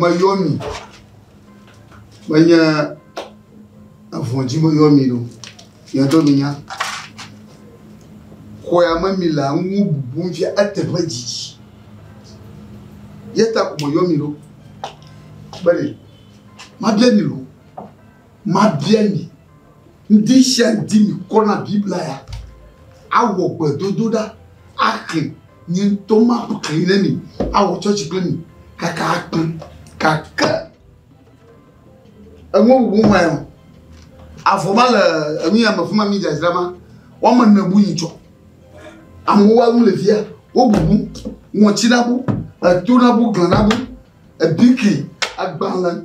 meyɔ mi menye avɔdzi meyɔ mi ɖo yɛtɔ mi nya xɔya me mi le ŋu bubu fia eteƒe dzidzi yeta ko meyɔ mi ɖo bene mabia mi ɖo Mabia mi, ŋdishandi mikɔ na Biblia ya, awɔ gbedodoɖa, axli, nye ŋtɔ maxli ne mi, awɔ tsɔtsi kple mi kaka akpe. Gake eŋuwo bubu ŋae o, avɔ ma le enuya me fima mi dzadzra ma, woame ne bu yi tsɔ. Amewo wa nu le fia, wo bubu, ŋɔtsi na bu, eto na bu, gla na bu, ebiki, agbalẽ.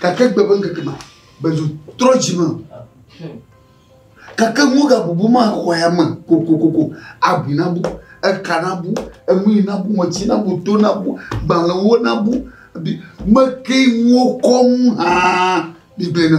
Gake gbe ƒe ŋkeke ma, Bezu trɔ dzi me. Gake ŋu gabubu ma xɔ ya me kokokoko, abi na bu, eka na bu, enu yi na bu, ŋɔti na bu, to na bu, gbalẽwo na bu, bi meke ŋuwo kɔ ŋu hã bi gbe na.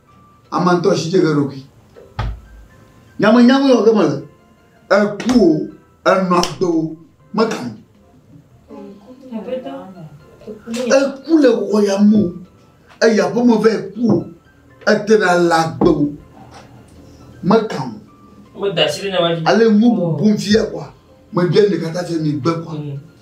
Ama ŋutɔ si dze ge ɖokui. Nyamenyamee wɔ ge mele. Eku o, enɔ agbe o, meka nu. Eku le xɔ ya me o, eya ƒe me vɛ ku o, ete ɖe le agbe o, meka nu. Ale ŋu bubu fia kɔa, meɖe ɖeka ta fia mi gbe kɔa.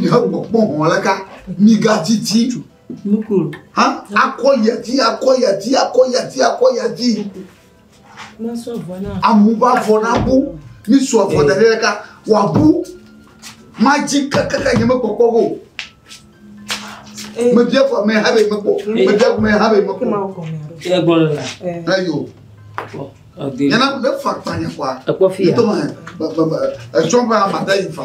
Yehowa kpɔ hɔ̃ le ka migadidi hã akɔ yadi akɔ yadi akɔ yadi akɔ yadi amu ba vɔ na bu mi sɔ vɔ da ɖe ka wa bu ma dzi kakaka nye me kpɔkpɔ o me bia fɔ me ha be me kpɔ me bia me ha be me kpɔ ya gbɔ le la ayo yana ne fa kpanya kwa ekpɔ fi ya to ma e tsɔ ba ma da yi fa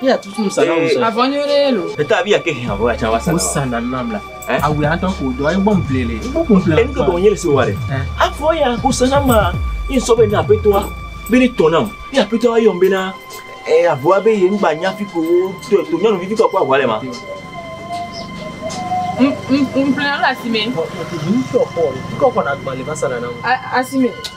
Ye atutu nusa na wosɔ. Avɔ nyo ɖe lo. Eta abi yake hɛn avɔ atsa wasa. Musa na nam la. Awu ya tɔ ko dɔ ayi bɔm ple le. Ibo kun ple. Enu gbɔ nye le se wa ɖe. Avɔ ya ko se na ma. Yin sɔ be na apetoa. Be ne tɔ nam. Ye apetoa yɔ be na e avɔa be ye ngba nya fi ko wo to to nyɔnu vivi ko ko avɔa le ma. Mplen ala asime. Mplen ala asime. Mplen ala asime.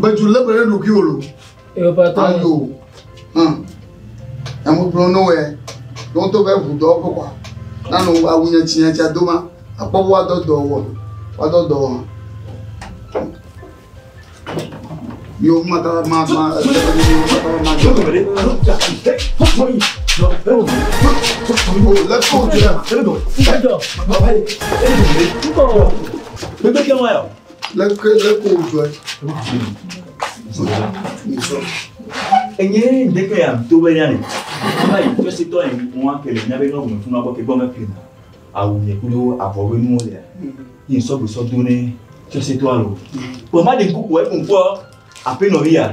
Beju lé be ɖe ɖokui wò lo. Ayo. Hum. Emu kplɔ no wɛ. Ɖo to be ʋu dɔ ƒe kɔa. Nanu awu nye tsi nye tsi ado ma. Akpɔ wo adɔ dɔ wɔ. Wo adɔ dɔ wɔ. Yo mata ma ma. Let's go. Let's go. Let's go. Leke leke wòdzɔe? Dzɔe. Nyesɔ. Enye ŋdeke ya to be ya ne. Ava yi tɔ si tɔ yi ŋu ake le nyabe ne ŋun funu abɔ ke gbɔ mɛpli na. Awu nye kudo avɔ be nuwo le. Yi sɔ gbesɔ do ne tɔ si tɔ alo. Kpɔ ma de kuku e kun kpɔ ape nɔ ya.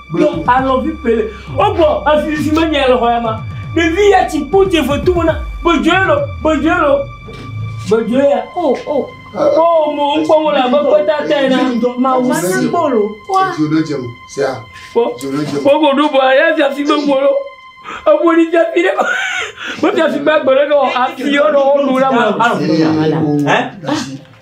Gblɔ alɔ vi pele. O gbɔ afi fi me nyɛ le xɔ ya ma. Ɖevi ya tsi kpo tse fe tu na. Gbedzoe lo, gbedzoe lo. Gbedzoe ya. O o. O mo ŋkpɔ mo la be kpeta tɛ na. Ma wo si. Kpo lo. Wa. Dzo ɖe dze mo. Sia. Kpo. Dzo ɖe dze mo. Kpo go do bo ya fi afi me mo lo. E bo ni tse fi de. Bo tse fi gbe gbe le no afi yo no wo do la ma. Afi ya. Hein?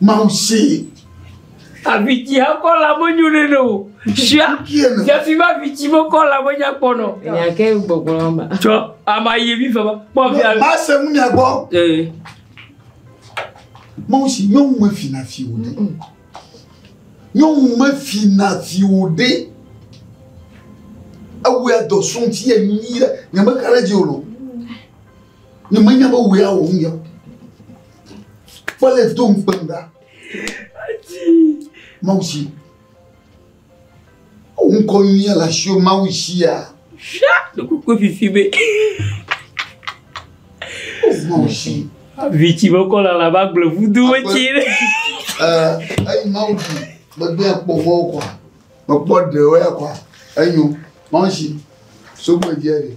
Mawu see. Avitsi akɔ la menyo ne ne o. Sia. Jafi ma avitsi mekɔ la menya kpɔ nɔ. Nyake gbɔgbɔ la ma. Tsɔ ama yi mi fama. Kpɔ fi ala. Ba se mu nya gbɔ. Ee. Mawu si nyɔnu me fi na fi o ne. Nyɔnu me fi na fi o de. Ewu ya dɔ sun ti ye nyi ya. Nyame kare dzi o lo. Nye menya be wòe awɔ ŋu yɔ. Fɔle do ŋukpem ɖa. Mawu si. Ŋu kɔ nyuia le asiwo Mawu sia. Fia ɖokoko fifi be. Mawu si. Vitsi be kɔ lala ba gblɔ vudo wetsi ɖe. Ɛɛ eyi Mawu si gbegbe akpɔ mɔwo kɔ. Mekpɔ ɖewo ya kɔ. Enyo. Mawu si. Sogbe dze ɖe.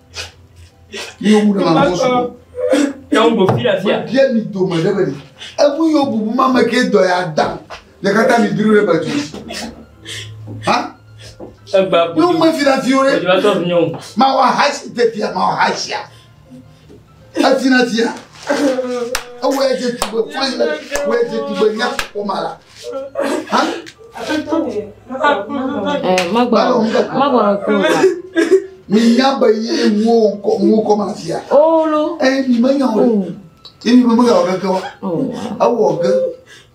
Míwo bu ɖe ma kɔsu. Yàwó gbò fi ɖe fia. Bia mi dome ɖe bɛ ni. Ebu yóò bu bu ma me ke dɔ ya da. Le kata mi dúró ɖe bàtú. Ha? Egba bu. Yóò mú efi ɖe fi wò ɖe. Òjò atɔ fi nyɔnu. Ma wà ha si te fia ma wà ha sia. Eti na tia. Ewo ya je tugbe fún ilé. Ewo ya je tugbe nya kpɔma la. Hã? Magbɔnɔ magbɔnɔ kúrò wá. Mi nya be ye wo kɔ wo kɔ ma tia. Olo. Ẹ mi me nya o. Ẹ mi me me nya o keke wa. Ewɔ ge.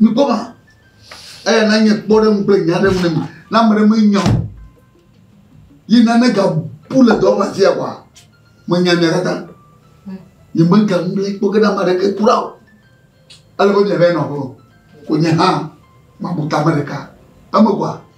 Mikpɔ ma. Eya na nye kpɔ ɖe ŋugble nya ɖe ŋu ne mi. Na ame ɖe menya o. Yi nane ga bu le dɔwɔƒe afi ya kɔa, menya mia katã. Nye me ga ŋugble kpɔ ge na ame ɖeke kura o. Ele be mia va yi nɔ ƒe o. Ko nye hã, ma bu tame ɖeka. Eme kɔa,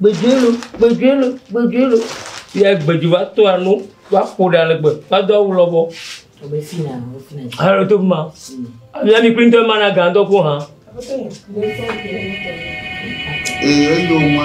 Gbeɖueloo, gbeɖueloo, gbeɖueloo. Yɛ gbeɖu va to anu, va ƒo ɖa le gbe, va do awu lɔbɔ. Wòbe fina, wòbe fina. Alo to ma. Ami ami kpli ŋutɔ mana gan dɔ ko hã. Ee, eyo ma.